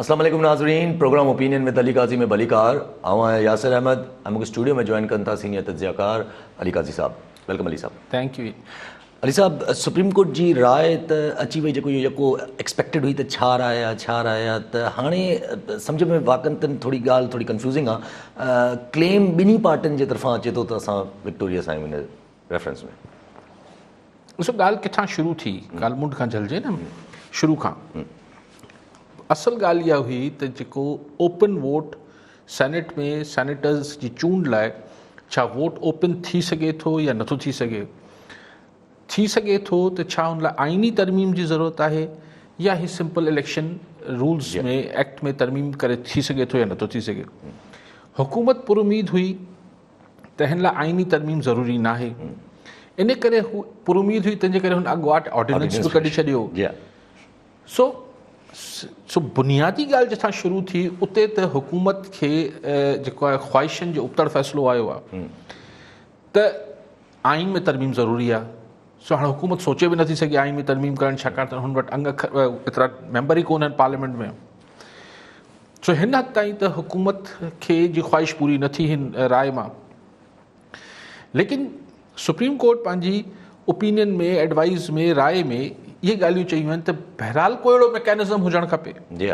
اسلام عليڪم ناظرين programme opinion with Ali Qazi ۾ به علي ڪار آئون آهيان ياسر احمد ۽ مونکي اسٽوڊيو ۾ جوائن ڪن ٿا سينيئر تجزيه ڪار علي قاضي صاحب ويلڪم علي صاحب thank you Ali sahib supreme court جي راء ته اچي وئي جيڪو اهو يڪو ايڪسپيڪٽيڊ هئي ته ڇا راء آهي ڇا راء آهي ته هاڻي سمجهه ۾ واقعن تن ٿوري ڳالهه ٿوري ڪنفيوزنگ آهي ڪليم ٻنهي پارٽين جي طرفان اچي ٿو ته اسان وڪٽوريس آهيون ريفرنس ۾. ڏسو ڳالهه ڪٿان شروع ٿي ڳالهه منڍ کان جهلجي نه شروع کان اصل ڳالهه اها هئي ته جيڪو اوپن ووٽ سينيٽ ۾ سينيٽرز جي چونڊ لاء ڇا ووٽ اوپن ٿي سگهي ٿو يا نٿو ٿي سگهي ٿي سگهي ٿو ته ڇا ان لاء آئيني ترميم جي ضرورت آهي يا هي سمپل اليڪشن رولز ۾ ايڪٽ ۾ ترميم ڪري ٿي سگهي ٿو يا نٿو ٿي سگهي حڪومت پر اميد هئي تنهن لاء آئيني ترميم ضروري ناهي. ان ڪري هو پراميد هئي، تنهن جي ڪري هن اڳواٽ آرڊيننس به ڪڍي ڇڏيو. سو سو بنيادي ڳالهه جتان شروع ٿي اتي ته حڪومت کي جيڪو آهي خواهشن جو ابتڙ فيصلو آيو آهي ته آئين ۾ ترميم ضروري آ سو هاڻ حڪومت سوچي به نٿي سگهي آئين ۾ ترميم ڪرڻ ڇاڪاڻ ته هن وٽ انگ اکر ايترا ميمبر ئي ڪونهن پارليامينٽ ۾ سو هن حد تائين ته حڪومت کي جي خواهش پوري نه ٿي هن راء مان ليڪن سپريم ڪورٽ پنهنجي اوپينين ۾ ايڊوائز ۾ راء ۾ اهي ڳالهيون چيون آهن ته بهرحال ڪو اهڙو ميڪانزم هجڻ کپي جي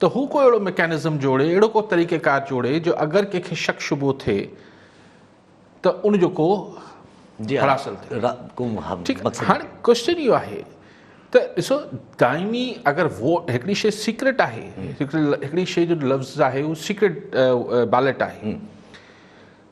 ته هو ڪو اهڙو ميڪانزم جوڙي، اهڙو ڪو طريقيڪار جوڙي جو اگر ڪنهن کي شڪ شبهو ٿئي ته ان جو ڪو حل حاصل ٿئي. ٺيڪ آهي هاڻي ڪوشچن اهو آهي ته ڏسو دائمي اگر ووٽ هڪڙي شي سيڪريٽ آهي، هڪڙي شي جو لفظ آهي اهو سيڪريٽ بيلٽ آهي.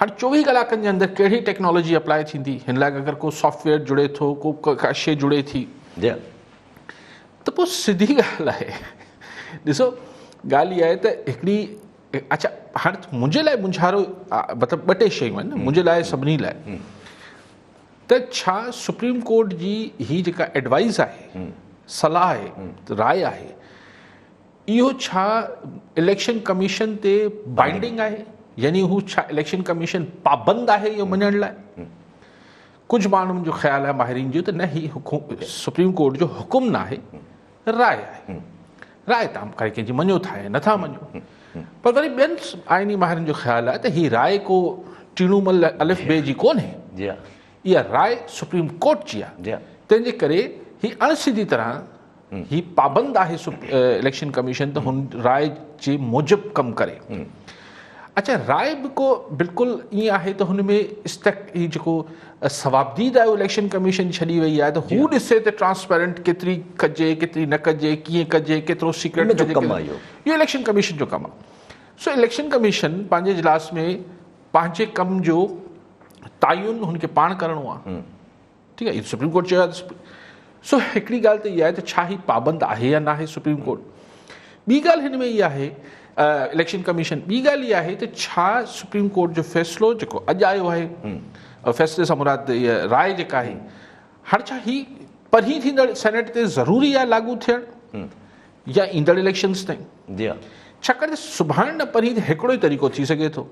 هر چوويهه ڪلاڪن جي اندر ڪهڙي ٽيڪنالاجي اپلائي ٿيندي هن لاء اگر ڪو سافٽويئر جڙي ٿو ڪو ڪا شي جڙي ٿي ته پوء سڌي ڳالهه آهي ڏسو ڳالهه اها آهي ته هڪڙي اچھا هاڻي منهنجي لاء منجھارو مطلب ٻه ٽي شيون آهن منهنجي لاء سڀني لاء ته ڇا سپريم ڪورٽ جي هي جيڪا ايڊوائز آهي صلاح آهي راء آهي اهو ڇا اليڪشن ڪميشن تي بائنڊنگ آهي يعني هو ڇا اليڪشن ڪميشن پابند آهي اهو مڃڻ لاء ڪجهه ماڻهن جو خيال آهي ماهرين جو ته نه هي سپريم ڪورٽ جو حڪم نه آهي راء آهي راء تام ڪري ڪنهن جي مڃو ٿا يا نٿا مڃو پر وري ٻين آئيني ماهرن جو خيال آهي ته هي راء کو ٽيڻو مل الف جي جي ڪونهي جي اها راء سپريم ڪورٽ جي آهي جي تنهن جي ڪري هي اڻ سڌي طرح هي پابند آهي اليڪشن ڪميشن ته هن راء جي موجب ڪم ڪري اچا راء به ڪو بلڪل ائين آهي ته هن ۾ استق هي جيڪو ثوابديد آهي اليڪشن ڪميشن ڇڏي وئي آهي ته هو ڏسي ته ٽرانسپيرنٽ ڪيتري ڪجي ڪيتري نه ڪجي ڪيئن ڪجي ڪيترو سيڪريٽ ڪجي ڪم آهي اهو اليڪشن ڪميشن جو ڪم آهي سو اليڪشن ڪميشن پنهنجي اجلاس ۾ پنهنجي ڪم جو تعين هن کي پاڻ ڪرڻو آهي ٺيڪ آهي سپريم ڪورٽ چيو آهي سو هڪڙي ڳالهه ته اها آهي ته ڇا هي پابند آهي يا ناهي سپريم ڪورٽ ٻي ڳالهه هن ۾ اها آهي اليڪشن ڪميشن ٻي ڳالهه اها آهي ته ڇا سپريم ڪورٽ جو فيصلو جيڪو اڄ آيو آهي فيصلي سان مراد اها راء جيڪا آهي هر ڇا هي پرين ٿيندڙ سينيٽ تي ضروري آهي لاڳو ٿيڻ يا ايندڙ اليڪشنز تائين جي ها. ڇاڪاڻ ته سڀاڻي نه پرين ته هڪڙو ئي طريقو ٿي سگهي ٿو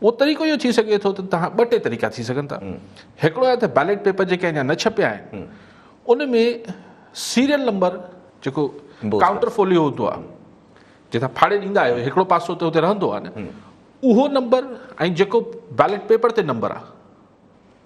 اهو طريقو اهو ٿي سگهي ٿو ته تهان ٻه ٽي طريقا ٿي سگهن ٿا هڪڙو آهي ته بيلٽ پيپر جيڪي اڃا نه ڇپيا آهن ان ۾ سيريل نمبر جيڪو بوز ڪائونٽر فوليو هوندو آهي جنهن تان ڦاڙي ڏيندا آهيو هڪڙو پاسو ته هتي رهندو آهي نه اهو نمبر ۽ جيڪو بيلٽ پيپر تي نمبر آهي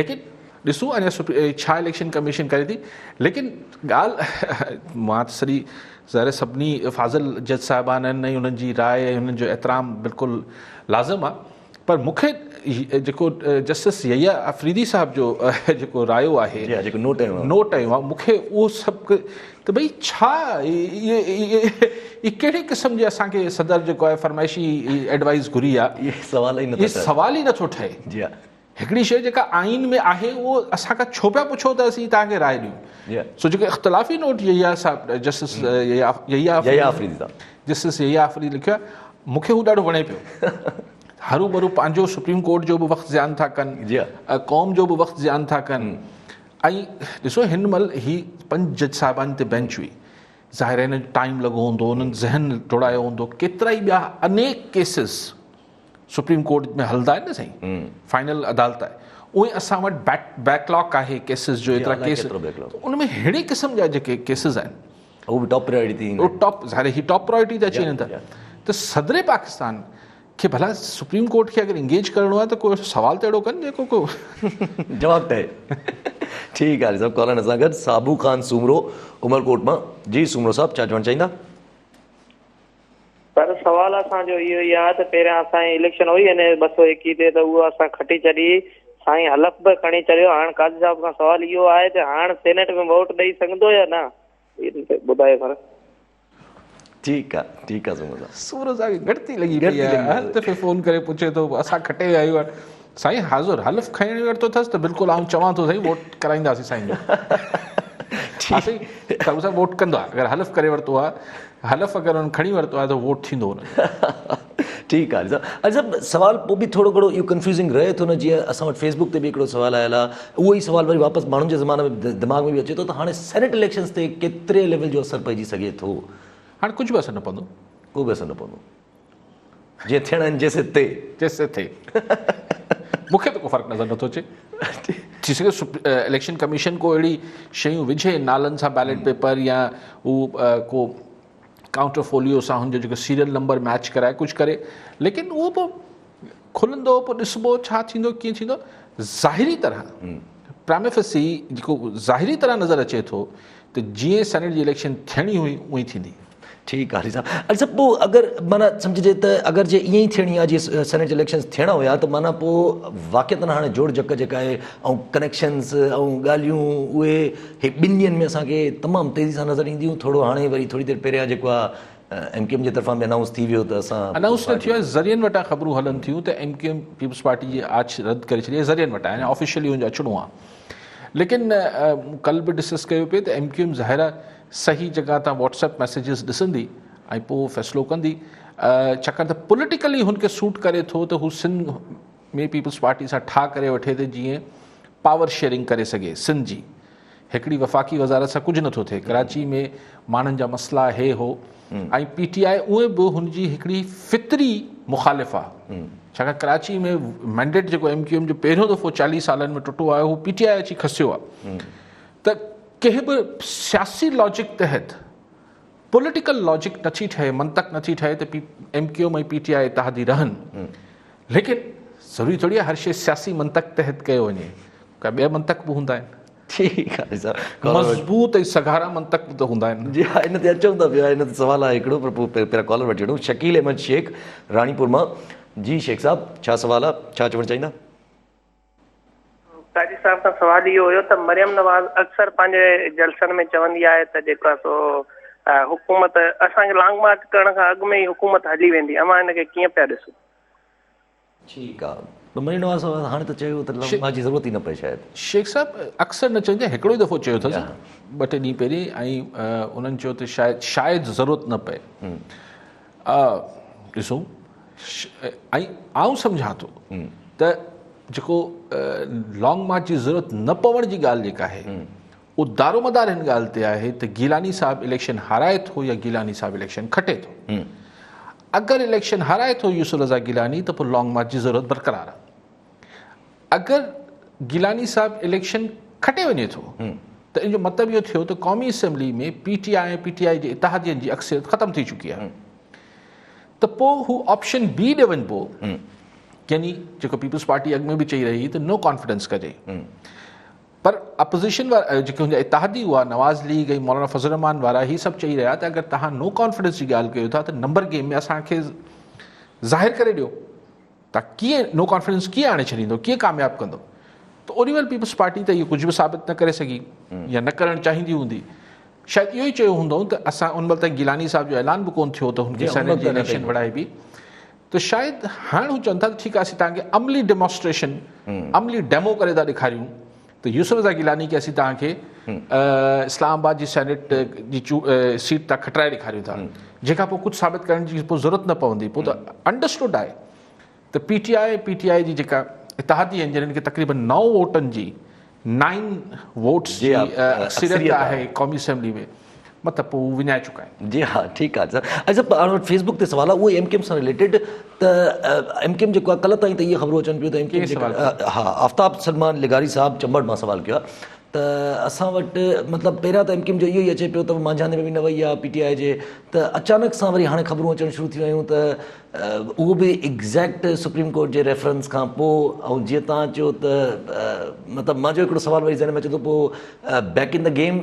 ليڪن ڏسون اڃا ڇا اليڪشن ڪميشن ڪري ٿي ليڪن ڳالهه مان ته سڄي ظاهر سڀني فاضل جج صاحبان آهن ۽ انهن جي راء ۽ انهن جو احترام بلڪل لازم آهي پر مون کي جيڪو جسٽس يحيٰ آفريدي صاحب جو جيڪو رايو آهي نوٽ آيو آهي مون کي اهو سبق ته ڀئي ڇا ڪهڙي قسم جي اسان کي صدر جيڪو آهي فرمائشي ايڊوائز گهري آهي سوال ئي نٿو ٺهي هڪڙي شيء جيڪا آئين ۾ آهي اهو اسان کان ڇو پيا پڇو ته اسين توهان کي راء ڏيون سو جيڪو اختلافي note Yahya Sahib justice Yahya Afridi justice Yahya Afridi لکيو آهي مون کي هو ڏاڍو وڻي پيو هرو ڀرو پنهنجو سپريم ڪورٽ جو به وقت زيان ٿا ڪن قوم جو به وقت زيان ٿا ڪن ۽ ڏسو هن مهل هي پنج جج صاحبان تي بينچ هئي ظاهر ٽائيم لڳو هوندو انهن ذهن ڊوڙايو هوندو ڪيترا ئي ٻيا انيڪ ڪيسز سپريم ڪورٽ ۾ هلندا آهن نه سائين فائنل عدالت آهي اهي اسان وٽ بيڪ بيڪ لاڪ آهي ڪيسز جو ايترا ڪيس ان ۾ ههڙي قسم جا جيڪي ڪيسز آهن هو به ٽاپ پرائورٽي تي هو ٽاپ ظاهر هي ٽاپ پرائورٽي تي اچي وڃن ٿا ته صدر پاڪستان کي ڀلا سپريم ڪورٽ کي اگر انگيج ڪرڻو آهي ته ڪو سوال ته اهڙو ڪن جيڪو ڪو جواب ته ٺيڪ آهي صاحب ڪالن اسان گڏ صابو خان سومرو عمرڪوٽ مان جي سومرو صاحب ڇا چوڻ چاهيندا پر سوال اسان جو اهو ئي آهي ته پهريان اسان جي اليڪشن هئي ان ٻه سؤ ايڪيهه تي ته اهو اسان کٽي ڇڏي سائين حلف به کڻي چڙهيو هاڻ قاضي صاحب کان سوال اهو آهي ته هاڻ سينيٽ ۾ ووٽ ڏئي سگهندو يا نه ان تي ٻڌايو سر ٺيڪ آ ٺيڪ آ سورج صاحب سورج صاحب کي گهٽتي لڳي پئي آهي هر دفعي فون ڪري پڇي ٿو اسان کٽي ويا آهيون سائين حاضر حلف کڻي ورتو اٿس ته بلڪل آئون چوان ٿو سائين ووٽ ڪرائينداسين سائين جو ها سائين ڪاڪو صاحب ووٽ ڪندا اگر حلف ڪري ورتو آ حلف اگر ان کڻي ورتو آ ته ووٽ ٿيندو ان ٺيڪ آ اڄ صاحب سوال پو به ٿورو گھڙو اهو ڪنفيوزنگ رهي ٿو نه جيئن اسان وٽ فيسبوڪ تي به هڪڙو سوال آيل آ اهو ئي سوال وري واپس ماڻهن جي زمانه ۾ دماغ ۾ به اچي ٿو ته هاڻي سينيٽ اليڪشنز تي ڪيتري ليول جو اثر پئجي سگھي ٿو هاڻي ڪجھ به اثر نه پوندو ڪو به اثر نه پوندو جيئن ٿيڻا آهن جي سي تي. جي سي تي. مون کي ته ڪو فرق نظر نٿو اچي. ٿي سگهي اليڪشن ڪميشن ڪو اهڙي شيون وجهي نالن سان بيلٽ پيپر يا هو ڪو ڪائونٽر فوليو سان هن جو جيڪو سيريل نمبر ميچ ڪرائي ڪجهه ڪري ليڪن اهو به کلندو پوء ڏسبو ڇا ٿيندو ڪيئن ٿيندو ظاهري طرح پراميفسي جيڪو ظاهري طرح نظر اچي ٿو ته جيئن سينيٽ جي اليڪشن ٿيڻي هئي اون ئي ٿيندي. ٺيڪ آ علي صاحب. علي صاحب پوء اگر معنيٰ سمجهجي ته اگر جي ائين ئي ٿيڻي آ جيئن سينيٽ جي اليڪشنز ٿيڻا هيا ته معنيٰ پوء واقعتن هاڻي جوڙجڪ جيڪا آهي ۽ ڪنيڪشنز ۽ ڳالهيون اهي هي ٻن ڏينهن ۾ اسان کي تمام تيزي سان نظر اينديون ٿورو هاڻي وري ٿوري دير پهريان جيڪو آ ايم ڪيو ايم جي طرفان به انائونس ٿي ويو ته اسان انائونس نه ٿيو آهي ذريعن وٽان خبرون هلن ٿيون ته M Q M Peoples party جي آڇ رد ڪري ڇڏي آهي ذريعن وٽان يعني آفيشلي ان جو اچڻو آهي ليڪن ڪل به ڊسڪس ڪيو پي ته ايم ڪيو ايم ظاهر آهي صحيح جڳهه تان واٽس ايپ ميسيجز ڏسندي ۽ پوء فيصلو ڪندي ڇاڪاڻ ته پوليٽيڪلي هن کي سوٽ ڪري ٿو ته هو سنڌ ۾ پيپلز پارٽي سان ٺاهه ڪري وٺي ته جيئن پاور شيئرنگ ڪري سگهي، سنڌ جي هڪڙي وفاقي وزارت سان ڪجهه نٿو ٿئي، ڪراچي ۾ ماڻهن جا مسئلا هي هو ۽ پي ٽي آء اونئن به هن جي هڪڙي فطري مخالف آ ڇاڪاڻ ڪراچي ۾ مينڊيٽ جيڪو ايم ڪيو ايم جو پهريون دفعو چاليهه سالن ۾ ٽٽو آيو هو پي ٽي آء اچي کسيو آ ته ڪنهن به سياسي لاجڪ تحت پوليٽيڪل لاجڪ نٿي ٺهي منطق نٿي ٺهي ته M Q M ۽ P T I اتحادي رهن ليڪن ضروري ٿوري آهي هر شيء سياسي منطق تحت ڪيو وڃي ڪا ٻيا منطق به هوندا آهن ٺيڪ آهي صاحب مضبوط ۽ سگهارا منطق به ته هوندا آهن جي ها ان تي اچون ٿا پيا ان تي سوال آهي هڪڙو پر پوء پهريان ڪالر وٺي وٺون شڪيل احمد شيخ راڻيپور مان جي شيخ صاحب ڇا سوال آهي ڇا چوڻ چاهيندا قاضي صاحب کان سوال اهو هيو ته مريم نواز اڪثر پنهنجي جلسن ۾ چوندي آهي ته جيڪو آهي سو حڪومت اسان کي لانگ مارچ ڪرڻ کان اڳ ۾ ئي حڪومت هلي ويندي اوهان ان کي ڪيئن پيا ڏسو؟ ٺيڪ آ ته مريم نواز صاحب هاڻي ته چيو ته لانگ مارچ جي ضرورت ئي نه پئي شايد. شيخ صاحب اڪثر نه چوندي آهي هڪڙو ئي دفعو چيو اٿس ٻه ٽي ڏينهن پهرين ۽ انهن چيو ته شايد شايد ضرورت نه پئي. آء ڏسو ۽ آئون سمجهان ٿو ته جيڪو لانگ مارچ جي ضرورت نه پوڻ جي ڳالهه جيڪا آهي اهو دارومدار هن ڳالهه تي آهي ته گيلاني صاحب اليڪشن هارائي ٿو يا گيلاني صاحب اليڪشن کٽي ٿو اگر اليڪشن هارائي ٿو يوسف رضا گيلاني ته پوء لانگ مارچ جي ضرورت برقرار آهي اگر گيلاني صاحب اليڪشن کٽي وڃي ٿو ته ان جو مطلب اهو ٿيو ته قومي assembly ۾ P T I ۽ P T I جي اتحادين جي اڪثريت ختم ٿي چڪي آهي ته پوء هو آپشن بي ڏي وڃبو يعني جيڪو پيپلز پارٽي اڳ ۾ به چئي رهي ته نو ڪانفيڊنس ڪجي پر اپوزيشن وارا جيڪي هن اتحادي هئا نواز ليگ ۽ مولانا فضل الرحمان وارا هي سڀ چئي رهيا ته اگر تهان نو ڪانفيڊنس جي ڳالهه ڪيو ٿا ته نمبر گيم ۾ اسان کي ظاهر ڪري ڏيو ته ڪيئن نو ڪانفيڊنس ڪيئن آڻي ڇڏيندو ڪيئن ڪامياب ڪندو ته اوني ويل پيپلز پارٽي ته اهو ڪجهه به ثابت نه ڪري سگهي يا نه ڪرڻ چاهيندي هوندي شايد اهو ئي چيو هوندو ته اسان ان مهل تائين گيلاني صاحب جو اعلان به ڪون ٿيو ته هن کي سينيٽ جي اليڪشن وڙهائبي ته شايد هاڻ هو چون ٿا ته ٺيڪ آهي اسين توهان کي عملي ڊيمانسٽريشن عملي ڊيمو ڪري ٿا ڏيکاريون ته يوسف رضا گيلاني کي اسين توهان کي اسلام آباد جي سينيٽ جي سيٽ تان کٽرائي ڏيکاريون ٿا جنهن کان پوء ڪجهه ثابت ڪرڻ جي پوء ضرورت نه پوندي پوء ته انڊرسٽوڊ آهي ته P T I P T I جي جيڪا اتحادي آهن جنهن کي تقريبن نو ووٽن جي نائن ووٽس جي اڪثريت آهي قومي اسيمبلي ۾ مطلب پوء هو وڃائي چڪا آهن. جي ها ٺيڪ آهي سر ۽ سر هاڻي وٽ فيسبڪ تي سوال آهي اهو ايم ڪيم سان رليٽيڊ ته ايم ڪيم جيڪو آهي ڪلهه تائين ته اهي خبرون اچن پيون ته ايم ڪيم جيڪو ها آفتاب سلمان لغاري صاحب چمبڙ مان سوال ڪيو آهي ته اسان وٽ مطلب پهريان ته ايم ڪيم جو اهو ئي اچي پيو ته مانجهاندي ۾ به نه وئي آهي پي ٽي آء جي ته اچانڪ سان وري هاڻي خبرون اچڻ شروع ٿيون آهيون ته اهو به ايگزيڪٽ سپريم ڪورٽ جي ريفرنس کان پوء ۽ جيئن تان چيو ته مطلب مانجو هڪڙو سوال وري ذهن ۾ اچي ٿو پوء بيڪ ان دي گيم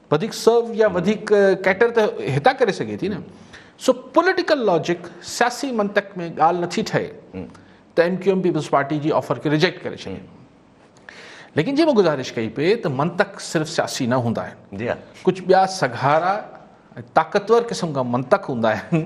وڌيڪ سرو يا وڌيڪ ڪيٽر ته هتان ڪري سگهي ٿي نه سو پوليٽيڪل لاجڪ سياسي منطق ۾ ڳالهه نٿي ٺهي ته M Q M Peoples party جي آفر کي ريجيڪٽ ڪري ڇڏي ليڪن جي مون گزارش ڪئي پئي ته منطق صرف سياسي نه هوندا آهن جي ها ڪجهه ٻيا سگهارا طاقتور قسم کان منطق هوندا آهن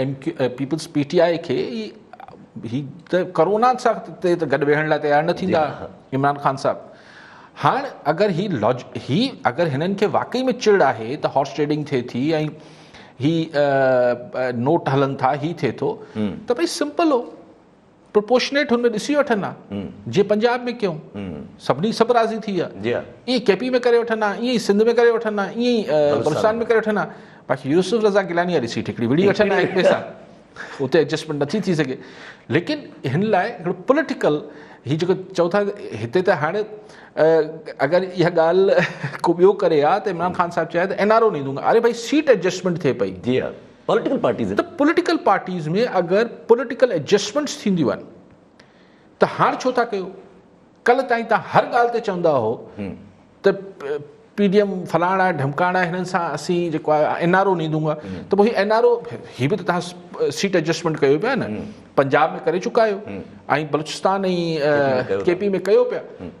M Q A Peoples P T I کي هي ته ڪرونا سان تي ته گڏ ويهڻ لاء تيار نه ٿيندا عمران خان صاحب هاڻ اگر هي لاج هي اگر هنن کي واقعي ۾ چڙ آهي ته هارس ٽريڊنگ ٿئي ٿي ۽ هي نوٽ هلن ٿا هي ٿئي ٿو ته ڀئي سمپل هو پروپورشنيٽ هن ۾ ڏسي وٺن ها جي پنجاب ۾ ڪيون سڀني سڀ راضي ٿي ويا ايئن ڪي پي ۾ ڪري وٺن ها ايئن سنڌ ۾ ڪري وٺن ها ايئن بلوچستان ۾ ڪري وٺن ها باقي يوسف رضا گيلاني جا ڏسي ٺڪڙي وڙهي وٺن ها هڪ ٻئي سان اتي ايڊجسٽمينٽ نٿي ٿي سگهي ليڪن هن لاء هڪڙو پوليٽيڪل هي جيڪو چئو ٿا هتي ته هاڻي اگر اها ڳالهه کو ٻيو ڪري ها ته عمران خان صاحب چيا ته اين آر او ني دونگا اري ڀائی سيٽ ايڊجسٽمينٽ ٿئي پئي جي پوليٽيڪل پارٽيز ته پوليٽيڪل پارٽيز ۾ اگر پوليٽيڪل ايڊجسٽمينٽس ٿينديون آهن ته هاڻ ڇو ٿا ڪيو ڪلهه تائين تان هر ڳالهه تي چوندا هو ته پي ڊي ايم فلاڻ آهي ڍمڪاڻ آهي هنن سان اسين جيڪو آهي اين آر او ني دونگا ته پوء اين آر او هي به ته تان سيٽ ايڊجسٽمينٽ ڪيو پيا نه پنجاب ۾ ڪري چڪا آهيو ۽ بلوچستان ۽ ڪي پي ۾ ڪيو پيا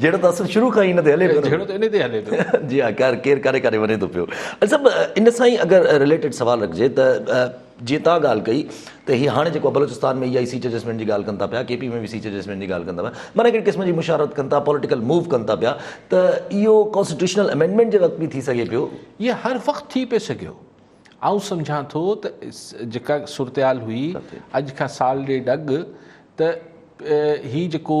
جهيڙو ته اصل شروع کان ئي ان تي هلي پيو. جهيڙو ته ان تي ئي هلي پيو. جي ها خير ڪير ڪاڏي ڪاڏي وڃي ٿو پيو. علي صاحب ان سان ئي اگر رليٽيڊ سوال رکجي ته جيئن توهان ڳالهه ڪئي ته هي هاڻي جيڪو بلوچستان ۾ اها ئي سيٽ ايڊجسٽمينٽ جي ڳالهه ڪن ٿا پيا ڪي پي ۾ به سيٽ ايڊجسٽمينٽ جي ڳالهه ڪن ٿا پيا معنيٰ هڪڙي قسم جي مشاورت ڪن ٿا پوليٽيڪل موو ڪن ٿا پيا ته اهو ڪانسٽيٽيوشنل امينڊمينٽ جي وقت به ٿي سگهي پيو. اهو هر وقت ٿي پئي سگهيو آئون سمجهان ٿو ته جيڪا صورتحال هئي اڄ کان سال ڏيڍ اڳ ته هي جيڪو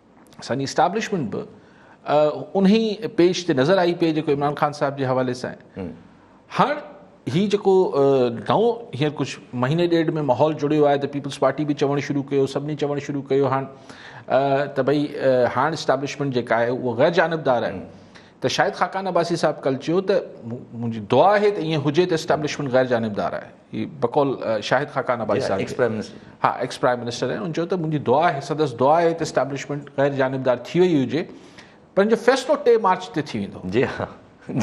سڄي اسٽابلشمينٽ به انهي پيج تي نظر آئي پئي جيڪو عمران خان صاحب جي حوالي سان آهي هاڻ هي جيڪو نئون هينئر ڪجهه مهيني ڏيڍ ۾ ماحول جڙيو آهي ته پيپلز پارٽي به چوڻ شروع ڪيو سڀني چوڻ شروع ڪيو هاڻ ته ڀئي هاڻ اسٽابلشمينٽ جيڪا آهي اها غير جانبدار آهي ته شاهد خاقان عباسي صاحب ڪل چيو ته منهنجي دعا آهي ته ائين هجي ته اسٽابلشمينٽ غير جانبدار آهي هي بقول شاهد خاقان عباسي صاحب جي ها ايڪس پرائم منسٽر آهن ان چيو ته منهنجي دعا آهي سندس دعا آهي ته اسٽيبلشمنٽ غير جانبدار ٿي وئي هجي پر ان جو فيصلو ٽي مارچ تي ٿي ويندو جي ها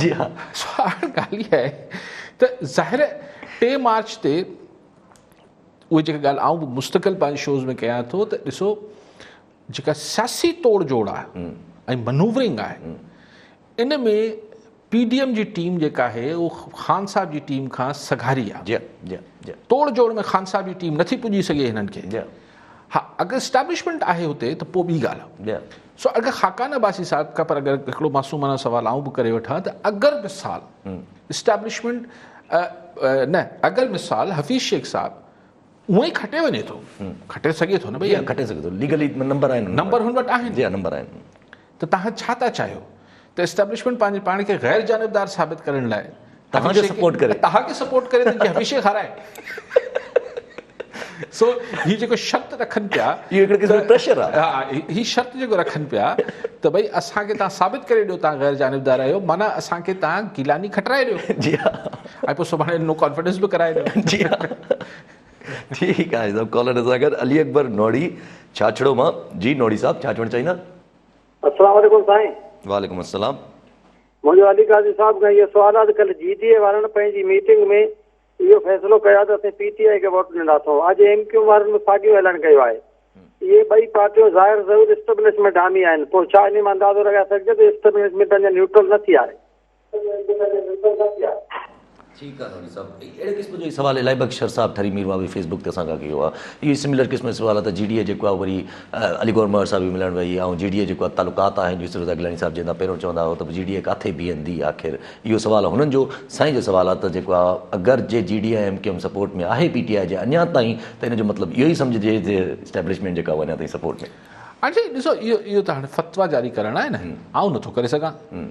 جي ها سوال ڳالهه هي آهي ته ظاهر ٽي مارچ تي اهي جيڪي ڳالهه آئون به مستقل پنهنجي شوز ۾ ڪيان ٿو ته ڏسو جيڪا سياسي توڙ جوڙ آهي ۽ منوورنگ آهي ان ۾ پي ڊي ايم جي ٽيم جيڪا آهي اهو خان صاحب جي ٽيم کان سگهاري آهي توڙ جوڙ ۾ خان صاحب جي ٽيم نٿي پڄي سگهي هنن کي ها اگر اسٽيبلشمينٽ آهي هتي ته پوء ٻي ڳالهه آهي سو اگر خاقان عباسي صاحب کان پر اگر هڪڙو معصومانه سوال آئون به ڪري وٺان ته اگر مثال اسٽيبلشمينٽ نه اگر مثال حفيظ شيخ صاحب هونء ئي کٽي وڃي ٿو کٽي سگهي ٿو نه جي ها کٽي سگهي ٿو ليگلي نمبر آهن نمبر هن وٽ آهن جي ها نمبر آهن ته توهان ڇا ٿا چاهيو ته اسٽيبلشمينٽ پنهنجي پاڻ کي غير جانبدار ثابت ڪرڻ لاء توهان کي سپورٽ ڪري توهان کي سپورٽ ڪري ته هميشه هارائي سو هي جيڪو شرط رکن پيا اهو هڪڙي قسم جو پريشر آهي ها هي شرط جيڪو رکن پيا ته ڀئي اسان کي توهان ثابت ڪري ڏيو توهان غير جانبدار آهيو معنيٰ اسان کي توهان گيلاني کٽرائي ڏيو جي ها ۽ پوء سڀاڻي نو ڪانفرنس به ڪرائي ڏيو. جي ها ٺيڪ آهي سڀ ڪالر اسان گڏ علي اڪبر نوڙي ڇاڇڙو مان جي نوڙي صاحب ڇا چوڻ چاهيندا. السلام عليڪم سائين. وعليڪم السلام. منهنجو علي قاضي صاحب کان اهو سوال آهي ته ڪلهه جي ڊي اي وارن پنهنجي ميٽنگ ۾ اهو فيصلو ڪيو آهي ته اسين پي ٽي آء کي ووٽ ڏنا اٿئون اڄ ايم ڪيو وارن به ساڳيو اعلان ڪيو آهي اهي ٻئي پارٽيون ظاهر ظهور اسٽبلشمينٽ حامي آهن پوء ڇا انهي مان اندازو لڳائي سگهجي ٿو ته اسٽبلشمينٽ اڃا نيوٽرل نه ٿي آهي. ٺيڪ آ نوري صاحب اهڙي قسم جو ئي سوال الائي بخشر صاحب ٺري مير واوي فيسبوڪ تي اسان کان ڪيو آ اهو ئي سملر قسم جو سوال آ ته جي ڊي اي جيڪو آ وري علي گوهر مهر صاحب به ملڻ وئي آ ۽ جي ڊي اي جيڪو آ تعلقات آهن يوسف رضا گيلاني صاحب جنهن تان پهريون چوندا هئا ته جي ڊي اي ڪاٿي بيهندي آخر اهو سوال هنن جو سائين جو سوال آ ته جيڪو آ اگر جي G D A M Q M support ۾ آهي پي ٽي آئي جي اڃان تائين ته ان جو مطلب اهو ئي سمجهجي ته اسٽيبلشمينٽ جيڪا اهو اڃان تائين سپورٽ ۾ آ جي ڏسو اهو اهو ته هاڻي فتويٰ جاري ڪرڻ آهي نه آئون نٿو ڪري سگهان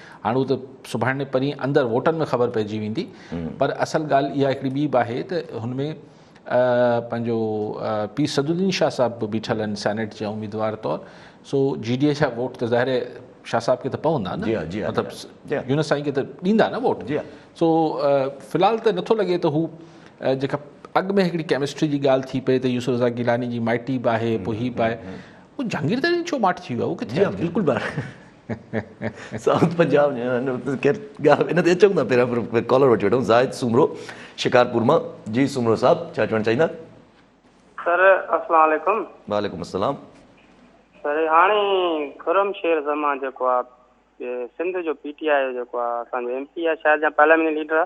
هاڻ هو ته سڀاڻي پرين اندر ووٽن ۾ خبر پئجي ويندي پر اصل ڳالهه اها هڪڙي ٻي به آهي ته هن ۾ پنهنجو پير سدالدين شاهه صاحب به بيٺل آهن سينيٽ جي اميدوار طور سو جي ڊي اي جا ووٽ ته ظاهر شاهه صاحب کي ته پوندا نه مطلب يونس سائين کي ته ڏيندا نه ووٽ سو في الحال ته نٿو لڳي ته هو جيڪا اڳ ۾ هڪڙي ڪيمسٽري جي ڳالهه ٿي پئي ته يوسف رضا گيلاني جي مائٽي به آهي پوء هي به آهي جهانگير ترين ڇو ماٺ ٿي ويو بلڪل سائوٿ پنجاب ان تي اچون ٿا پهريان ڪالر وٺي وٺون زاهد سومرو شڪارپور مان جي سومرو صاحب ڇا چوڻ چاهيندا سر اسلام عليڪم وعليڪم السلام سر هاڻي خرم شير زمان جيڪو آ سنڌ جو پي ٽي آء جيڪو آ اسان جو ايم پي آ شايد جا پارليامينٽ ليڊر آ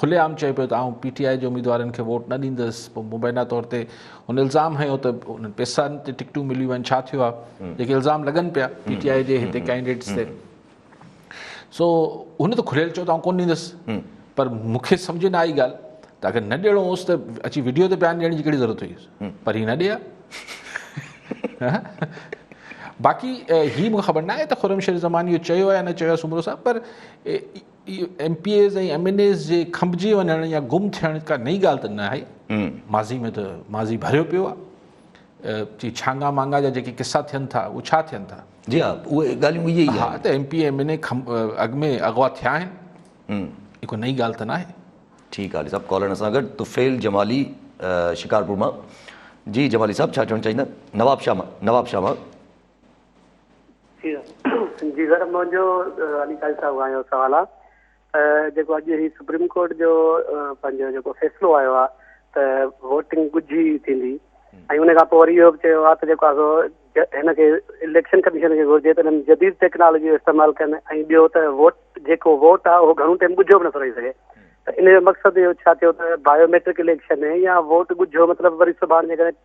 کلي عام چئي پيو ته آئون پي ٽي آء جي اميدوارن کي ووٽ نه ڏيندس، پوء مبينا طور تي هن الزام هنيو ته انهن پيسن تي ٽڪيٽون مليون آهن، ڇا ٿيو آهي؟ جيڪي الزام لڳن پيا پي ٽي آء جي هتي ڪينڊيڊيٽس تي سو هن ته کليل چيو ته آئون ڪونه ڏيندس پر مون کي سمجهه نه آئي ڳالهه ته اگر نه ڏيڻو هوس ته اچي ويڊيو تي بيان ڏيڻ جي ڪهڙي ضرورت هئيس پر هي نه ڏي ها باقي هي مون کي خبر نه آهي ته خرم شير زمان اهو چيو آهي يا نه چيو آهي سومرو صاحب پر M P As ۽ M N As جي کنڀجي وڃڻ يا گم ٿيڻ ڪا نئين ڳالهه ته ناهي، ماضي ۾ ته ماضي ڀريو پيو آهي. ڇانگا مانگا جا جيڪي قصا ٿين ٿا اهي ڇا ٿين ٿا؟ جي ها اهي ڳالهيون اهي ئي آهن. ها ته M P A M N A اڳ ۾ اغوا ٿيا آهن اهي ڪا نئين ڳالهه ته ناهي. ٺيڪ آهي علي صاحب ڪالر اسان سان گڏ طفيل جمالي شڪارپور مان جي جمالي صاحب ڇا چوڻ چاهيندا نوابشاهه مان نوابشاهه مان. جي سر منهنجو علي قاري صاحب کان اهو سوال آهي ته جيڪو اڄ هي سپريم ڪورٽ جو پنهنجو جيڪو فيصلو آيو آهي ته ووٽنگ ڳجهي ٿيندي ۽ ان کان پوء وري اهو به چيو آهي ته جيڪو آهي سو هن کي اليڪشن ڪميشن کي گهرجي ته هن جديد ٽيڪنالاجي جو استعمال ڪن ۽ ٻيو ته ووٽ جيڪو ووٽ آهي اهو گهڻو ٽائيم ڳجهو به نٿو رهي سگهي ته ان جو مقصد اهو ڇا ٿيو ته بايوميٽرڪ اليڪشن يا ووٽ ڳجهو مطلب وري سڀاڻ جيڪڏهن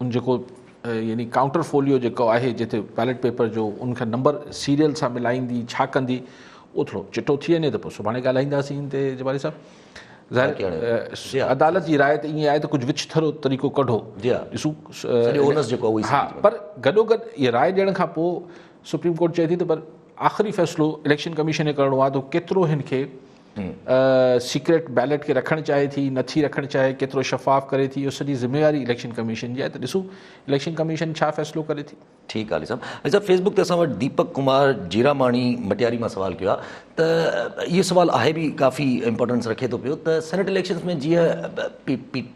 ان جيڪو يعني ڪائونٽر فوليو جيڪو آهي جتي بيلٽ پيپر جو ان کي نمبر سيريل سان ملائيندي ڇا ڪندي اهو ٿورو چٽو ٿي وڃي ته پوء سڀاڻي ڳالهائينداسين ان تي جباري صاحب ظاهر عدالت جي راء ته ائين آهي ته ڪجهه وچ ٿرو طريقو ڪڍو ڏسو پر گڏو گڏ اها راء ڏيڻ کان پوء سپريم ڪورٽ چئي ٿي ته پر آخري فيصلو اليڪشن ڪميشن کي ڪرڻو آهي ته ڪيترو هن کي سيڪريٽ بيلٽ کي رکڻ چاهي ٿي نه ٿي رکڻ چاهي ڪيترو شفاف ڪري ٿي اهو سڄي ذميواري اليڪشن ڪميشن جي آهي ته ڏسون اليڪشن ڪميشن ڇا فيصلو ڪري ٿي. ٺيڪ آ علي صاحب علي صاحب فيس بڪ تي اسان وٽ ديپڪ ڪمار جيراماڻي مٽياري مان سوال ڪيو آ ته اهو سوال آهي به ڪافي امپورٽنس رکي ٿو پيو ته سينيٽ اليڪشنس ۾ جيئن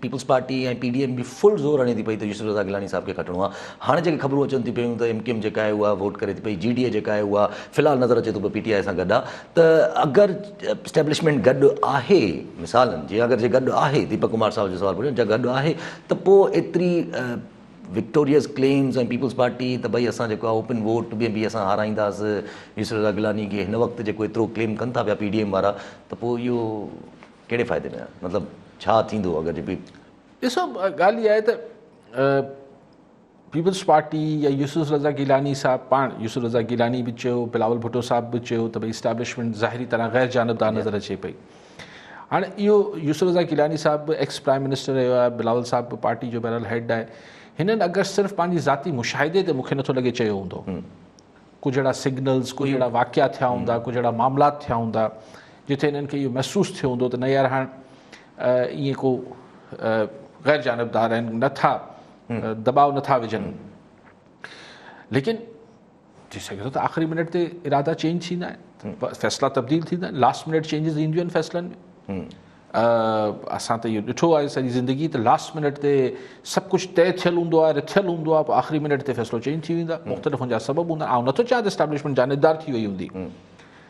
Peoples Party ۽ P D M بي فل زور هڻي ٿي پئي ته يوسف رضا گيلاني صاحب کي کٽڻو آ هاڻي جيڪي خبرون اچن ٿي پيون ته ايم ڪيو ايم جيڪا آهي اها ووٽ ڪري ٿي پئي جي ڊي اي جيڪا آهي اها في الحال نظر اچي ٿو پيو پي ٽي آء سان گڏ آ ته اگر اسٽيبلشمينٽ گڏ آهي مثال جي اگر جي گڏ آهي ديپڪ ڪمار صاحب جو سوال پڇيو جي گڏ آهي ته پو ايتري وڪٽوريس ڪليمز ۽ پيپلز پارٽي ته ڀئي اسان جيڪو آهي اوپن ووٽ ۾ به اسان هارائينداس يوسف رضا گيلاني کي هن وقت جيڪو ايترو ڪليم ڪن ٿا پيا پي ڊي ايم وارا ته پو اهو ڪهڙي فائدي ۾ مطلب ڇا ٿيندو اگر جي پي ڏسو ڳالهه اها آهي ته پيپلز پارٽي يا يوسف رضا گيلاني صاحب پاڻ يوسف رضا گيلاني به چيو بلاول ڀٽو صاحب به چيو ته ڀئي اسٽيبلشمينٽ ظاهري طرح غير جانبدار نظر اچي پئي هاڻي اهو يوسف رضا گيلاني صاحب به ايڪس پرائم منسٽر رهيو آهي بلاول صاحب به پارٽي جو بهرحال هيڊ آهي هنن اگر صرف پنهنجي ذاتي مشاهدي تي مونکي نٿو لڳي چيو هوندو ڪجهه اهڙا سگنلز ڪجهه اهڙا واقعا ٿيا هوندا ڪجهه اهڙا معاملات ٿيا هوندا جتي هنن کي اهو محسوس ٿيو هوندو ته نه يار هاڻ ائين ڪو غير جانبدار آهن نٿا دٻاء نه ٿا وجهن ليڪن ٿي سگهي ٿو ته آخري منٽ تي ارادا چينج ٿيندا آهن فيصلا تبديل ٿيندا آهن لاسٽ منٽ چينجز اينديون آهن فيصلن ۾ اسان ته اهو ڏٺو آهي سڄي زندگي ته لاسٽ منٽ تي سڀ کچھ طے ٿيل ہوندا ہے رٿيل ہوندا ہے پوء آخری منٹ تے فیصلو چینج تھی ویندا مختلف ان جا سبب ہوندا آء نٿو چاهيان ته اسٽيبلشمنٽ جانبدار ٿي وئي هوندي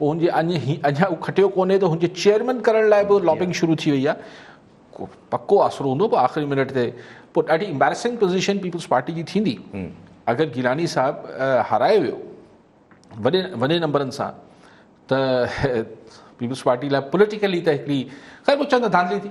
هن جي اڃا هو کٽيو ڪونهي ته هن جي چيئرمين ڪرڻ لاء به لابنگ شروع ٿي وئي آهي پڪو آسرو هوندو پوء آخري منٽ تي پوء ڏاڍي امبيرسنگ پوزيشن پيپلز پارٽي جي ٿيندي اگر گيلاني صاحب هارايو ويو وڏي وڏي نمبرن سان ته پيپلز پارٽي لاء پوليٽيڪلي ته هڪڙي خير پوء چوندا ڌانڌلي ٿي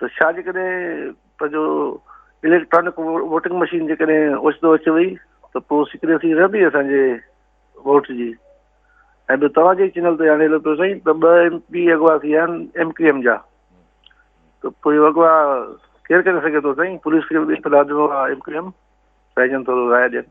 ته ڇا جيڪڏهن پنهنجو اليڪٽرانڪ ووٽنگ مشين جيڪڏهن اوچتو اچي وئي ته پوء سيڪريسي رهندي اسان جي ووٽ جي ۽ ٻيو توهان جي چينل تي هاڻي لڳو سائين ته ٻه ايم پي اغوا ٿي ويا آهن ايم ڪيو ايم جا ته پوء اهو اغوا ڪير ڪري سگهي ٿو سائين پوليس کي به اطلاع ڏنو ايم ڪيو ايم سائين جن ٿورو راء ڏين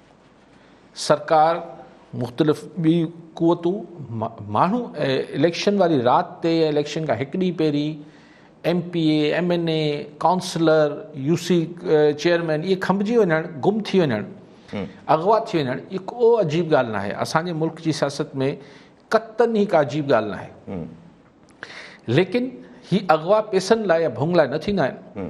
سرڪار، مختلف ٻي قوتون ماڻهو اليڪشن واري رات تي يا اليڪشن کان هڪ ڏينهن پهرين M P A M N A councillor U C chairman اهي کنڀجي وڃڻ گم ٿي وڃڻ اغوا ٿي وڃڻ اهي ڪو عجيب ڳالهه ناهي اسان جي ملڪ جي سياست ۾ قطن هي ڪا عجيب ڳالهه ناهي ليڪن هي اغوا پيسن لاء يا ڀونگ لاء نه ٿيندا آهن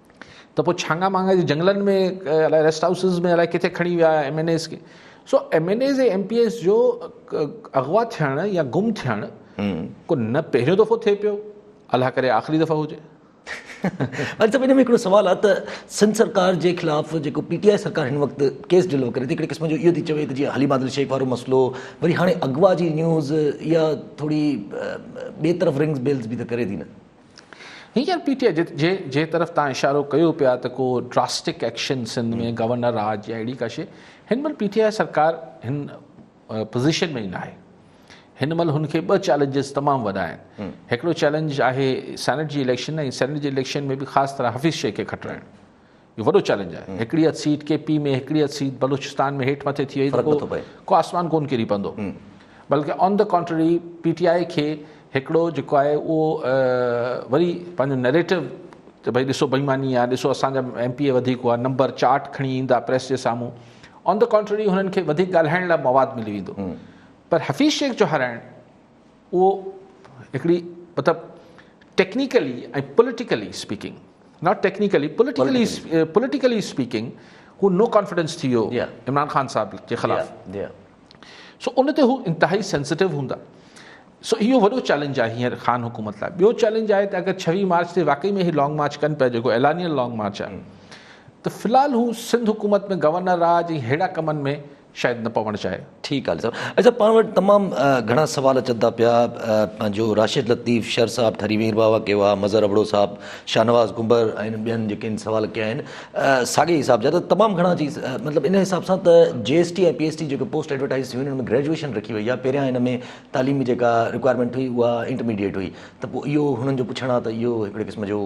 ته پوء ڇانگا مانگا جي جنگلن ۾ الائي ريسٽ هائوسز ۾ الائي ڪٿي کڻي ويا ايم اين ايز کي سو M N As ۽ M P As جو اغوا ٿيڻ يا گم ٿيڻ کو نه پهريون دفعو ٿئي پيو الله ڪري آخري دفعو هجي اڄ صاحب ان ۾ هڪڙو سوال آهي ته سنڌ سرڪار جي خلاف جيڪو پي ٽي آء سرڪار هن وقت ڪيس ڊلو ڪري ٿي هڪڙي قسم جو اهو ٿي چوي ته جيئن حليم عادل شيخ وارو مسئلو وري هاڻي اغوا جي نيوز اها ٿوري ٻئي طرف رنگز بيلز به ته ڪري ٿي نه هينئر پي ٽي آء جي جنهن طرف تان اشارو ڪيو پيا ته ڪو ڊراسٽڪ ايڪشن سنڌ ۾ گورنر راڄ يا اهڙي ڪا شي هن مهل پي ٽي آء سرڪار هن پوزيشن ۾ ئي ناهي هن مهل هن کي ٻه چيلنجز تمام وڏا آهن هڪڙو چيلنج آهي سينيٽ جي اليڪشن ۽ سينيٽ جي اليڪشن ۾ به خاص طرح حفيظ شيخ کي کٽرائڻ اهو وڏو چئلينج آهي، هڪڙي اڌ سيٽ ڪي پي ۾ هڪڙي اڌ سيٽ بلوچستان ۾ هيٺ مٿي ٿي وئي ته ڪو ڪو آسمان ڪون ڪري پوندو بلڪه on the contrary P T I کي هڪڙو جيڪو آهي اهو وري پنهنجو نئريٽو ته ڀئي ڏسو بيماني آهي ڏسو اسان جا ايم پي اي وڌيڪ هئا نمبر چارٽ کڻي ايندا پريس جي سامهون آن دي ڪانٽرري هنن کي وڌيڪ ڳالهائڻ لاء مواد ملي ويندو پر حفيظ شيخ جو هارائڻ اهو هڪڙي مطلب technically ۽ politically speaking not technically politically politically speaking هو نو ڪانفيڊنس ٿي ويو عمران خان صاحب جي خلاف سو ان تي هو انتهائي سينسٽو هوندا سو اهو وڏو چيلنج آهي هيئر خان حڪومت لاء ٻيو چيلنج آهي ته اگر ڇويهه مارچ تي واقعي ۾ هي لانگ مارچ ڪن پيا جيڪو اعلانيل لانگ مارچ آهي ته في الحال هو سنڌ حڪومت ۾ گورنر راج ۽ ههڙا ڪمن ۾ شايد نه پوڻ چاهي. ٺيڪ آ علي صاحب. علي صاحب پاڻ وٽ تمام گهڻا سوال اچن ٿا پيا پنهنجو راشد لطيف شر صاحب ٺري مير بابا ڪيو آ مظهر ابڙو صاحب شاهنواز ڪنڀر ۽ ٻين جيڪي ان سوال ڪيا آهن ساڳي حساب جا ته تمام گهڻا اچي مطلب ان حساب سان ته G S T ۽ P S T جيڪي پوسٽ ايڊورٽائز ٿيون ان ۾ گريجوئيشن رکي وئي آ پهريان ان ۾ تعليم جيڪا رڪوائرمينٽ هئي اها انٽرميڊيئيٽ هئي ته پوء اهو هنن جو پڇڻ آ ته اهو هڪڙي قسم جو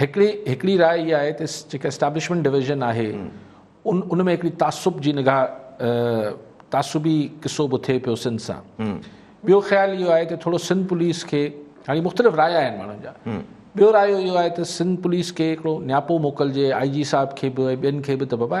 هڪڙي هڪڙي راء اها آهي ته جيڪا اسٽيبلشمينٽ ڊويزن آهي ان ان ۾ هڪڙي تعصب جي نگاهه تعصبي قصو به ٿئي پيو سنڌ سان ٻيو خيال اهو آهي ته ٿورو سنڌ پوليس کي هاڻي مختلف راء آهن ماڻهن جا ٻيو رايو اهو آهي ته سنڌ پوليس کي هڪڙو نياپو موڪلجي آء جي صاحب کي به ۽ ٻين کي به ته بابا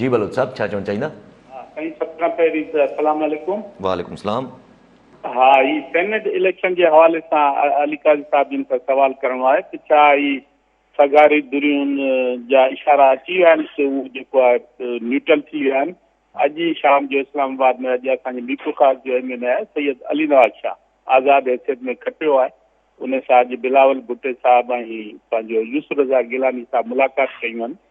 جي بلوچ صاحب ڇا چوڻ چاهيندا؟ ها سائين سڀ کان پهرين ته السلام عليڪم. وعليڪم السلام. ها هي سينيٽ اليڪشن جي حوالي سان علي قاضي صاحب جن کان سوال ڪرڻو آهي ته ڇا هي سگهاري ڌريون جا اشارا اچي ويا آهن سو هو جيڪو آهي نيوٽرل ٿي ويا آهن اڄ ئي شام جو اسلام آباد ۾ اڄ اسان جي ميرپور خاص جو ايم اين اي آهي سيد علي نواز شاهه آزاد حيثيت ۾ کٽيو آهي ان سان اڄ بلاول ڀٽي صاحب ۽ پنهنجو يوسف رضا گيلاني صاحب ملاقات ڪيون آهن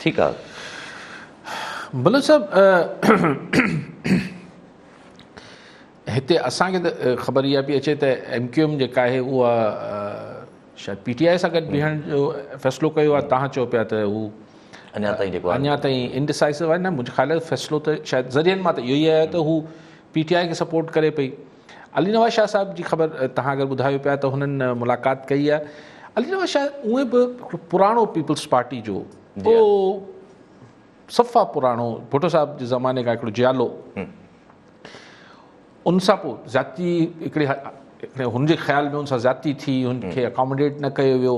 ٺيڪ آ بلوچ صاحب هتي اسان کي ته خبر اها پي اچي ته ايم ڪيو ايم جيڪا آهي اها شايد پي ٽي آء سان گڏ بيهڻ جو فيصلو ڪيو آهي تهان چئو پيا ته هو اڃا تائين جيڪو اڃا تائين انڊسائسو آهي نه منهنجي خيال ۾ فيصلو ته شايد ذريعن مان ته اهو ئي آهي ته هو پي ٽي آء کي سپورٽ ڪري پئي علي نواز شاهه صاحب جي خبر توهان اگر ٻڌايو پيا ته هنن ملاقات ڪئي آهي علي نواز شاهه اونئن به پراڻو پيپلز پارٽي جو جي آه. صفا پراڻو ڀٽو صاحب جي زماني کان هڪڙو جيالو ان سان پوء زيادتي هڪڙي هن جي خيال ۾ ان سان زيادتي ٿي هن کي اڪاموڊيٽ نه ڪيو ويو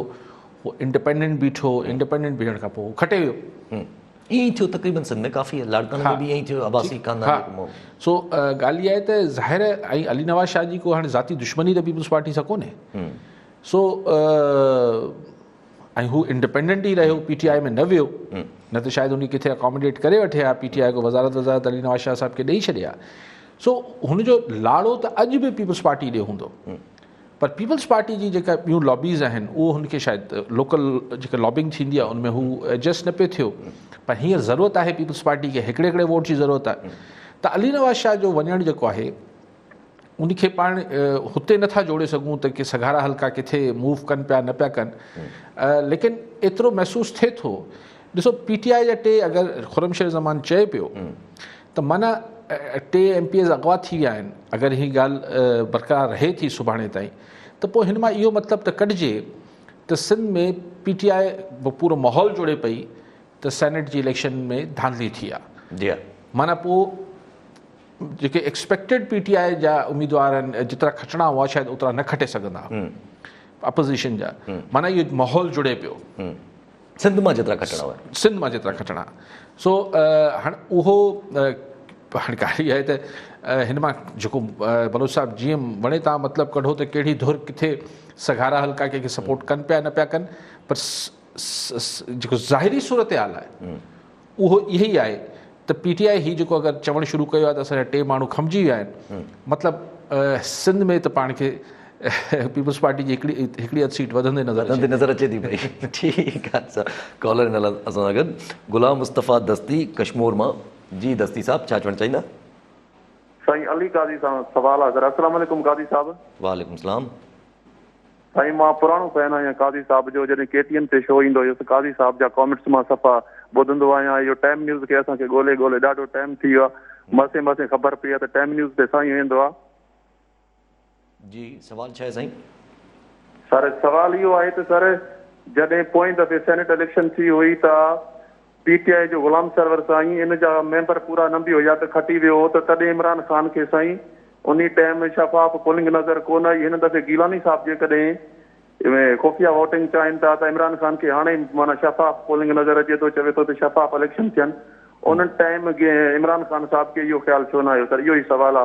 هو انڊيپينڊنٽ بيٺو انڊيپينڊنٽ بيهڻ کان پوء کٽي ويو ائين ئي ٿيو تقريبن سنڌ ۾ ڪافي لاڙڪاڻي ۾ به ائين ئي ٿيو آباسي خاندان سو ڳالهه اها آهي ته ظاهر ۽ علي نواز شاهه جي ڪو هاڻي ذاتي دشمني ته پيپلز پارٽي سان ڪونهي سو ۽ هو انڊيپينڊنٽ ئي رهيو پي ٽي آء ۾ نه ويو نه ته شايد ان کي اڪاموڊيٽ ڪري وٺي ها پي ٽي آء کي وزارت وزارت علي نواز شاهه صاحب کي ڏئي ڇڏي ها سو هن جو لاڙو ته اڄ به پيپلز پارٽي ڏي هوندو پر پيپلز پارٽي جي جيڪا ٻيون لابيز آهن اهو هن کي شايد لوڪل جيڪا لابنگ ٿيندي آهي ان ۾ هو ايڊجسٽ نه پيو ٿيو پر هينئر ضرورت آهي پيپلز پارٽي کي هڪڙي هڪڙي ووٽ جي ضرورت آهي ته علي نواز شاهه جو وڃڻ جيڪو آهي ان کي پاڻ هتي نٿا جوڙي سگهون ته ڪي سگهارا حلقا ڪٿي موو ڪن پيا نه پيا ڪن ليڪن ايترو محسوس ٿئي ٿو ڏسو پي ٽي آء جا ٽي اگر خرم شير زمان چئي پيو ته معنيٰ ٽي ايم پي ايز اغوا ٿي ويا آهن، اگر هي ڳالهه برقرار رهي ٿي سڀاڻي تائين ته پوء هن مان اهو مطلب ته ڪڍجي ته سنڌ ۾ پي ٽي آء به پورو ماحول جوڙي پئي ته سينيٽ جي اليڪشن ۾ ڌانڌلي ٿي آ معنيٰ پوء جيڪي ايڪسپيڪٽيڊ پي ٽي آء جا اميدوار آهن جيترا کٽڻا هئا شايد اوترا نه کٽي سگهندا اپوزيشن جا معنيٰ اهو ماحول جڙي پيو. سنڌ مان جيترا کٽڻا هئا. سنڌ مان جيترا کٽڻا. سو هاڻ اهو هاڻ ڳالهه اها آهي ته هن مان جيڪو بلوچ صاحب جيئن وڻي تان مطلب ڪڍو ته ڪهڙي ڌر ڪٿي سگهارا حلقا ڪنهن کي سپورٽ ڪن پيا نه پيا ڪن پر جيڪو ظاهري صورتحال آهي اهو اهي ئي آهي ته پي ٽي آء هي جيڪو اگر چوڻ شروع ڪيو آهي ته اسان جا ٽي ماڻهو کمجي ويا آهن مطلب سنڌ ۾ ته پاڻ کي پيپلز پارٽي جي هڪڙي هڪڙي اڌ سيٽ وڌندي نظر وڌندي نظر اچي ٿي پئي ٺيڪ آهي سر ڪالر ان اسان سان گڏ غلام مصطفيٰ دستي ڪشمور مان جي دستي صاحب ڇا چوڻ چاهيندا سائين علي قاضي سان سوال آهي سر السلام عليڪم قاضي صاحب وعليڪم السلام سائين مان پراڻو فين آهيان قاضي صاحب جو جڏهن ڪي ٽي اين تي شو ايندو هيس قاضي صاحب جا ڪامينٽس مان صفا ٻڌندو آهيان اهو ٽائيم نيوز کي اسان کي ڳولي ڳولي ڏاڍو ٽائيم ٿي ويو آهي مسي مسي خبر پئي آهي ته ٽائيم نيوز تي سائين ويندو آهي جي سوال ڇا آهي سائين. سر سوال اهو آهي ته سر جڏهن پوئين دفعي سينيٽ اليڪشن ٿي هئي ته. پي ٽي آء جو غلام سرور سائين ان جا ميمبر پورا نه به هيا ته کٽي ويو هو ته تڏهن عمران خان کي سائين انهي ٽيم شفاف پولنگ نظر ڪو نه آئي هن دفعي گيلاني صاحب جيڪڏهن خفيه ووٽنگ چاهين ٿا ته عمران خان کي هاڻي معنيٰ شفاف پولنگ نظر اچي ٿو چوي ٿو ته شفاف اليڪشن ٿين ان ٽيم عمران خان صاحب کي اهو خيال ڇو نه آيو سر اهو ئي سوال آ.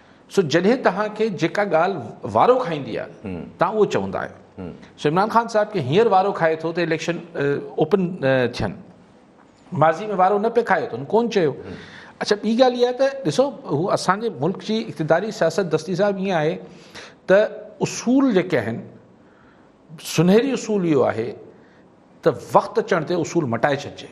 سو جڏهن توهان کي جيڪا ڳالهه وارو کائيندي آهي توهان اهو چوندا آهيو سو عمران خان صاحب کي هينئر وارو کائي ٿو ته اليڪشن اوپن ٿين ماضي ۾ وارو نه پئي کايو اٿن ڪون چيو اڇا ٻي ڳالهه اها ته ڏسو هو اسان جي ملڪ جي اقتداري سياست دستي صاحب ائين آهي ته اصول جيڪي آهن سنهري اصول اهو آهي ته وقت اچڻ تي اصول مٽائي ڇڏجي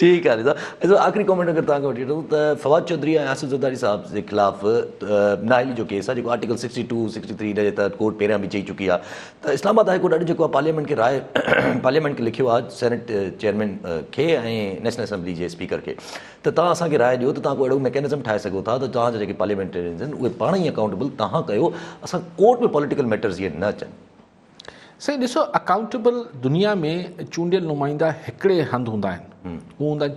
ٺيڪ آهي رضا صاحب آخري ڪمينٽ اگر توهان کي وٺي وٺون ته فواد چوڌري ۽ آصف زرداري صاحب جي خلاف نااهلي جو ڪيس آهي جيڪو article sixty two sixty three جي تحت ڪورٽ پهريان به چئي چڪي آهي ته اسلام آباد هاء ڪورٽ اڄ جيڪو آهي پارليامينٽ کي راء پارليامينٽ کي لکيو آهي سينيٽ چيئرمين کي ۽ نيشنل اسيمبلي جي اسپيڪر کي ته توهان اسان کي راء ڏيو ته توهان ڪو اهڙو ميڪينزم ٺاهي سگهو ٿا ته توهان جا جيڪي پارليامينٽيرينز آهن اهي پاڻ ئي اڪائونٽيبل توهان ڪيو اسان ڪورٽ ۾ پوليٽيڪل ميٽرز جيئن نه اچن سائين ڏسو اڪائونٽيبل دنيا ۾ چونڊيل نمائندا هڪڙي هنڌ هوندا آهن هو هوندا آهن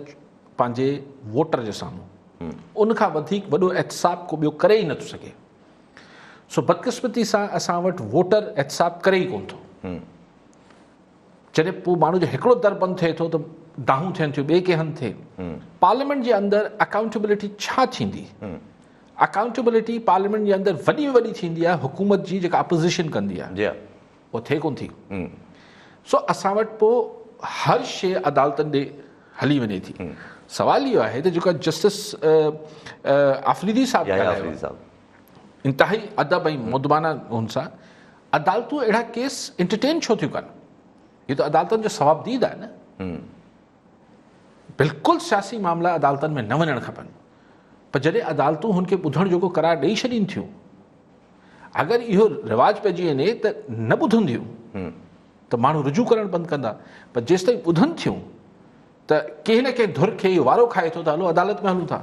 پنهنجي ووٽر جي سامهون ان کان وڌيڪ وڏو احتساب ڪو ٻيو ڪري ئي نٿو سگهي سو بدقسمتي سان اسان وٽ ووٽر احتساب ڪري ئي ڪون ٿو جڏهن پوء ماڻهو جو هڪڙو در بند ٿئي ٿو ته دانهون ٿين ٿيون ٻئي ڪنهن هنڌ ٿئي پارليامينٽ جي اندر اڪائونٽيبلٽي ڇا ٿيندي اڪائونٽيبلٽي پارليامينٽ جي اندر وڏي ۾ وڏي ٿيندي آهي حڪومت جي جيڪا اپوزيشن ڪندي آهي جي ها اها ٿئي ڪونه ٿي سو اسان وٽ پوء هر شيء عدالتن ڏي هلي وڃي ٿي سوال اهو آهي ته جيڪا جسٽس آفريدي صاحب يحيٰ ڳالهايو آفريدي صاحب آهي، انتهائي ادب ۽ مؤدبانه هن سان عدالتون اهڙا ڪيس انٽرٽين ڇو ٿيون ڪن هي ته عدالتن جو ثوابديد آهي نه بلڪل سياسي معاملا عدالتن ۾ نه وڃڻ کپن پر جڏهن عدالتون هن کي ٻڌڻ جوڳو قرار ڏئي ڇڏين ٿيون اگر اهو رواج پئجي وڃي ته نه ٻڌنديون ته ماڻهو رجوع ڪرڻ بند ڪندا پر جيستائين ٻڌن ٿيون ته ڪنهن نه ڪنهن ڌر کي اهو وارو کائي ٿو ته هلو عدالت ۾ هلون ٿا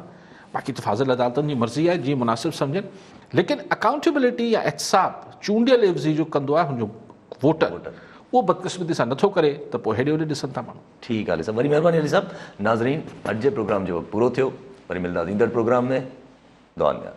باقي ته فاضل عدالتن جي مرضي آهي جيئن مناسب سمجهن ليڪن اڪائونٽيبلٽي يا احتساب چونڊيل عيوضي جو ڪندو آهي هن جو ووٽر اهو بدقسمتي سان نٿو ڪري ته پوء هيڏي هوڏي ڏسن ٿا ماڻهو. ٺيڪ آ علي صاحب. وڏي مهرباني علي صاحب. ناظرين اڄ جي پروگرام جو وقت پورو ٿيو. وري ملنداس ايندڙ پروگرام ۾ دعائن ۾ ياد.